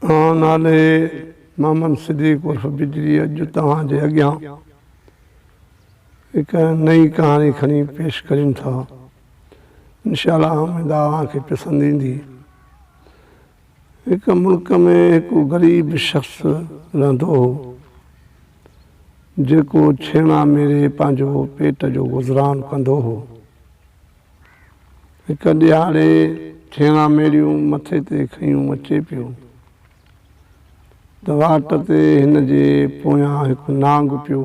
آن نالي محمد صديق عرف بجلي اڄ توهان جي اڳيان هڪ نئين ڪهاڻي کڻي پيش ڪريون ٿا انشاء الله اميد آ اوهان کي پسند ايندي. هڪ ملڪ ۾ هڪ غريب شخص رهندو هو، جيڪو ڇيڻا ميڙي پنهنجو پيٽ جو گذران ڪندو هو. هڪ ڏهاڙي ڇيڻا ميڙيون مٿي تي کنيون اچي پيو ته واٽ تي هن جي پويان هڪ نانگ پيو.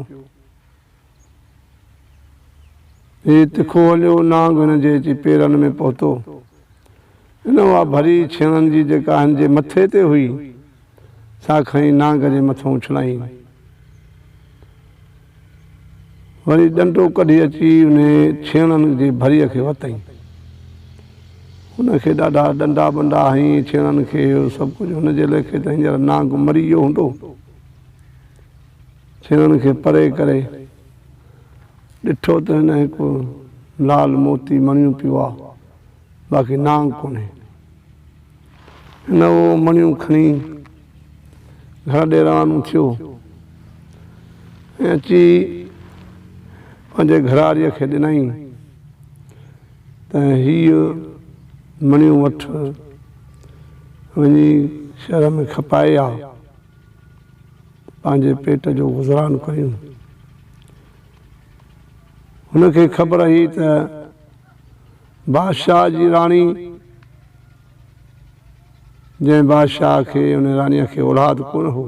هي تکو هليو نانگڻ جي اچي پيرن ۾ پهتو. هن اها ڀري ڇيڻن جي جيڪا هن جي مٿي تي هئي، سا کڻي نانگ جي مٿان اڇلائين. وري ڏنڊو ڪڍي اچي انهي ڇيڻن جي ڀري کي وتئين. هن کي ڏاڍا ڏنڊا ٻنڊا هنئين ڇيڻن کي اهو سڀ ڪجهه هن جي ليکي ته هينئر نانگ مري ويو هوندو. چيڻ کي پري ڪري، ڏٺو ته هن هڪ لال موتي مڻيون پيو آ، باقي نانگ ڪونهي. هن اهو مڻيون کڻي گهر ڏي روانو ٿيو ۽ اچي پنهنجي گهراڙيء کي ڏنائين ته هيء مڻيون وٺ وڃي شهر ۾ کپائي آ. پنهنجي پيٽ جو گذران ڪريون. هن کي خبر هئي ته بادشاهه جي راڻي جنهن بادشاهه کي ان راڻيء کي اولاد ڪونه هو،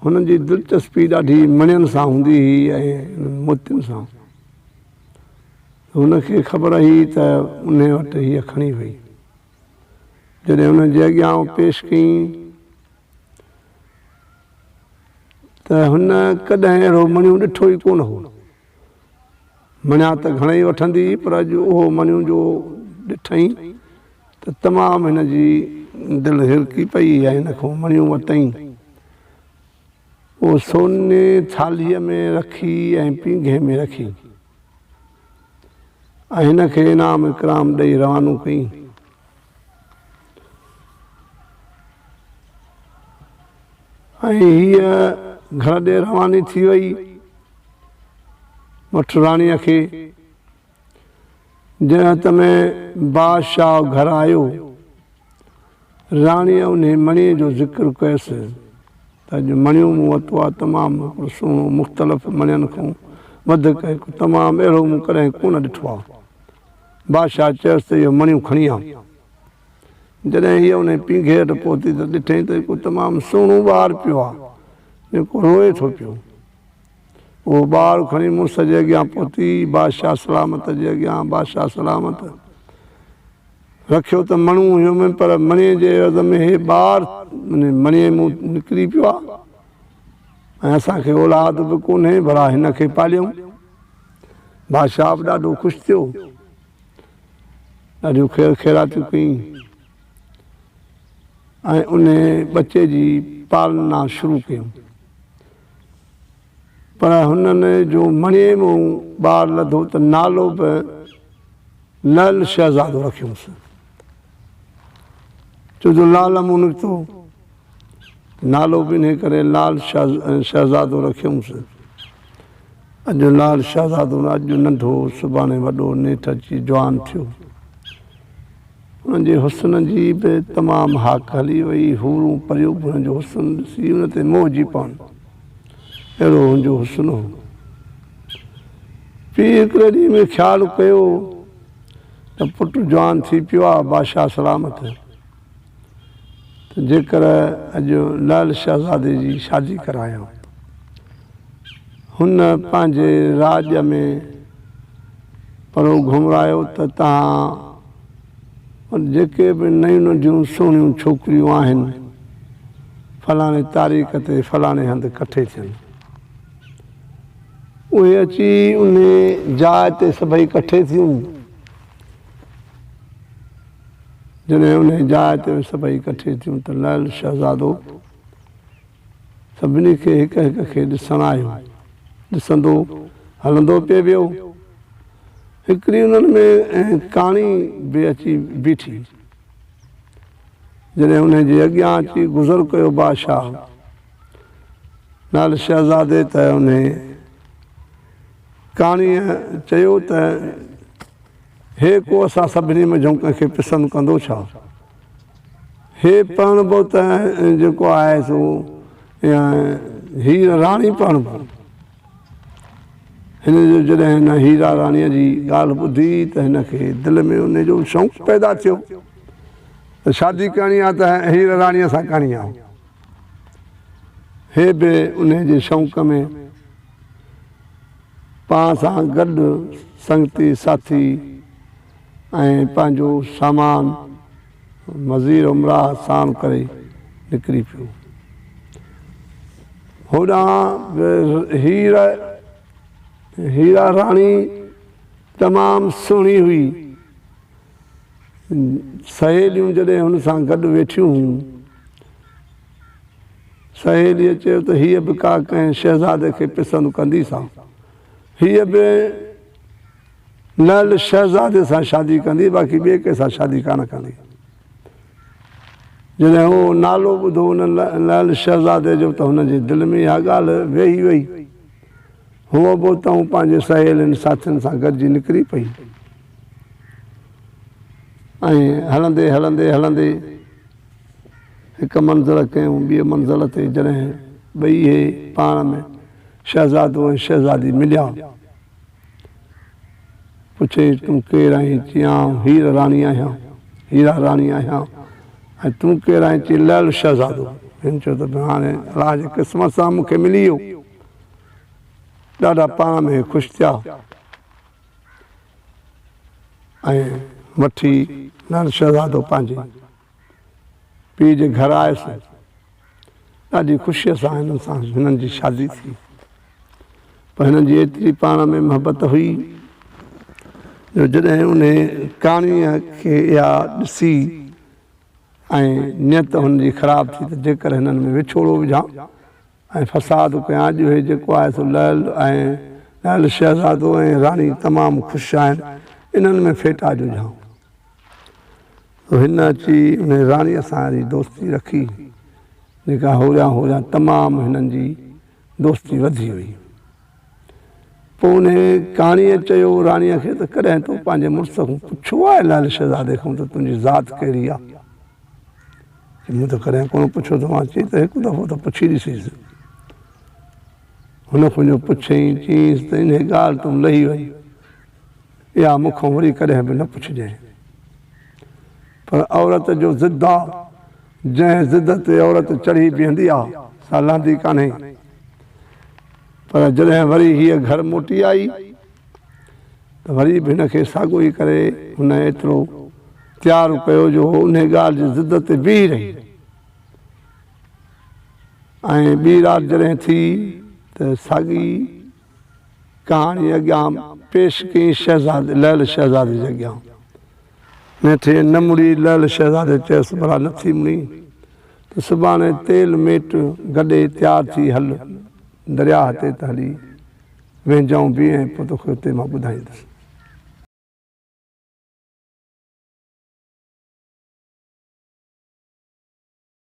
هن جي دلچسپي ڏاڍي مڻين سان هوندي هئي ۽ انهن موتين سان. هن کي خبر هئي ته انهي وٽ هيء کڻي وئي. جڏهن انهن جي اڳيان اهو پيش ڪيئين. ته هن ڪڏهن اهڙو مڻيون ڏٺو ئي ڪونه هو. مڻيا ته گهڻئي وٺندي هئي پر اڄ اهو مڻيون جو ڏٺئين ته تمام هن جي دل هرڪي پئي ۽ هن کان مڻيون ورتئين. اهو سوني ٿالهيء ۾ رکي ۽ پينگهي ۾ رکي. ۽ هن کي انعام اڪرام ڏئي روانو ڪيائين. ۽ هيء گهر ڏي رواني ٿي ويئي مٺ راڻيء کي جنهن هٿ ۾ بادشاهه گهر آيو. راڻيء انهيء مڻيء جو ذڪر ڪيس ته اڄ مڻيون مون ورتو آهي، تمام هڪڙو سهڻو، مختلف مڻين کان وڌڪ هڪ تمام اهڙو مون ڪڏهن ڪونه ڏٺو آهي. بادشاهه چيس ته اهو مڻيون کڻي آ. جڏهن هيء انهيء پينگهي هيٺ پهتي ته ڏٺئين ته هڪڙو تمام سهڻو ٻار پيو آهي، جيڪو روئي ٿو پيو. هوء ٻار کڻي مڙس جي اڳيان پهتي، بادشاهه سلامت جي اڳيان، بادشاهه سلامت، رکيو ته مڻو هيو م پر مڻي جي عيوض ۾ هي ٻار مڻي مون نڪري پيو آ ۽ اسان کي اولاد به ڪونهي ڀلا هن کي پاليون. بادشاهه به ڏاڍو خوش ٿيو، ڏاڍيون خير خيراتيون ڪيئين ۽ انهي ٻچي جي پالنا شروع ڪيون. پر هنن جو مڻي مون ٻار لڌو ته نالو به لعل شهزادو رکيوس. ڇو جو لعل مون نڪتو نالو به انهي ڪري لعل شهزادو رکيوس. اڄ لعل شهزادو نه اڄ ننڍو سڀاڻي وڏو نيٺ اچي جوان ٿيو. انهن جي حسن جي به تمام هاڪ هلي وئي. حورون پريون به هن جو حسن ڏسي ان تي موهجي پون. اهڙو هن جو حسن هو. پيء هڪڙي ڏينهن ۾ خيال ڪيو ته پٽ جوان ٿي پيو آهي بادشاهه سلامت ته جيڪر اڄ لعل شهزادي جي شادي ڪرايان. هن پنهنجي راڄ ۾ پرو گهمرايو ته تان وٽ جيڪي به نيون ننڍيون سهڻيون ڇوڪريون آهن، فلاڻي تاريخ تي فلاڻي هنڌ ڪٺي ٿين. اهي اچي انهي جاء تي سڀئي ڪٺي ٿيون. جڏهن انهي جاء تي سڀئي ڪٺي ٿيون ته لعل شهزادو. سڀني کي هڪ هڪ کي ڏسڻ آيو. ڏسندو هلندو پئي ويو. هڪڙي انهن ۾ ائين ڪاڻي به اچي بيٺي. جڏهن انهن جي اڳيان اچي گذر ڪيو بادشاهه نالي شهزادي ته انهيء ڪاڻيء چيو ته. هي ڪو اسان سڀني منجهون ڪنهن کي پسند ڪندو ڇا؟ هي پرڻبو ته جيڪو آهي سو هير راڻي پرڻبو. هن جو جڏهن هن هيرا راڻيء جي ڳالهه ٻڌي ته هن کي دل ۾ ان جو شوق پيدا ٿيو ته شادي ڪرڻي آهي ته هير راڻيء سان ڪرڻي آهي. هي به انهيء جي شوق ۾ پاڻ سان گڏ سنگتي ساٿي ۽ پنهنجو سامان وزير امراء ساڻ ڪري نڪري پيو. هوڏانهن به هير هيرا راڻي تمام سهڻي هئي. سهيليون جڏهن هن سان گڏ ويٺيون هيون. سهيليء چيو ته هيء به ڪا ڪنهن شهزادي کي پسند ڪندي سا. هيء به لعل شهزادي سان شادي ڪندي، باقي ٻئي ڪنهن سان شادي ڪانه ڪندي. جڏهن اهو نالو ٻڌو ان لعل شهزادي جو ته هن جي دل ۾ اها ڳالهه ويهي وئي. هوء به اتان پنهنجي سهيلين ساٿين سان گڏجي نڪري پئي ۽ هلندي هلندي هلندي. هڪ منزل کانئون ٻيء منزل تائين جڏهن ٻئي هي پاڻ ۾ شهزادو ۽ شهزادي مليا. پڇيائين تون ڪير آهين؟ چيائين آئون هير راڻي آهيان، هيرا راڻي آهيان، ۽ تون ڪير آهين؟ چيائين لعل شهزادو. هن چيو ته ڀيڻ هاڻي الله جي قسمت سان مون کي ملي ويو. ڏاڍا پاڻ ۾ هي خوش ٿيا. ۽ وٺي نر شهزادو پنهنجي پيء جي گهر آيس. ڏاڍي خوشيء سان هنن سان هنن جي شادي ٿي. پر هنن جي ايتري پاڻ ۾ محبت هئي جو جڏهن انهي ڪاڻيء کي اها ڏسي ۽ نيت هن جي خراب ٿي ته جيڪر هنن ۾ وڇوڙو وجهان ۽ فساد ڪيان اڄ هي جيڪو آهي سو لعل ۽ لعل شهزادو ۽ راڻي تمام خوش آهن انهن ۾ ڦيٽا جو جهانگ سو هن اچي انهي راڻي سان ري دوستي رکي جيڪا هوريان هوريان تمام هنن جي دوستي وڌي وئي. پوء ان ڪاڻيء چيو راڻيء کي ته ڪڏهن تو پنهنجي مڙس کان پڇيو آهي لعل شهزادي کان ته تنهنجي ذات ڪهڙي آهي؟ چي مون ته ڪڏهن ڪونه پڇيو اٿو آن چي ته هڪ دفعو ته پڇي ڏسيس. هن کونجو پڇيائين، چيائينس ته انهيء ڳالهه تون لهي وڃ، اها مون کان وري ڪڏهن به نه پڇجانء. پر عورت جو ضد آ، جنهن ضد تي عورت چڙهي بيهندي آ، سا لهندي ڪانهي. پر جڏهن وري هيء گهر موٽي آئي ته وري به هن کي ساڳيو ئي ڪري هن ايترو تيار ڪيو جو هوء انهي ڳالهه جي ضد تي بيهي رهي ۽ ٻي رات جڏهن ٿي ته ساڳي ڪهاڻي اڳيان پيش ڪيائين شهزادي لعل شهزادي جي اڳيان. نه ٿئي نه مڙي لعل شهزادي چيس ڀلا نه ٿي مڙين ته سڀاڻي تيل ميٽ گڏي تيار ٿي هل درياهه تي ته هلي ويهنجائون به ۽ پوء توکي اتي مان ٻڌائيندس.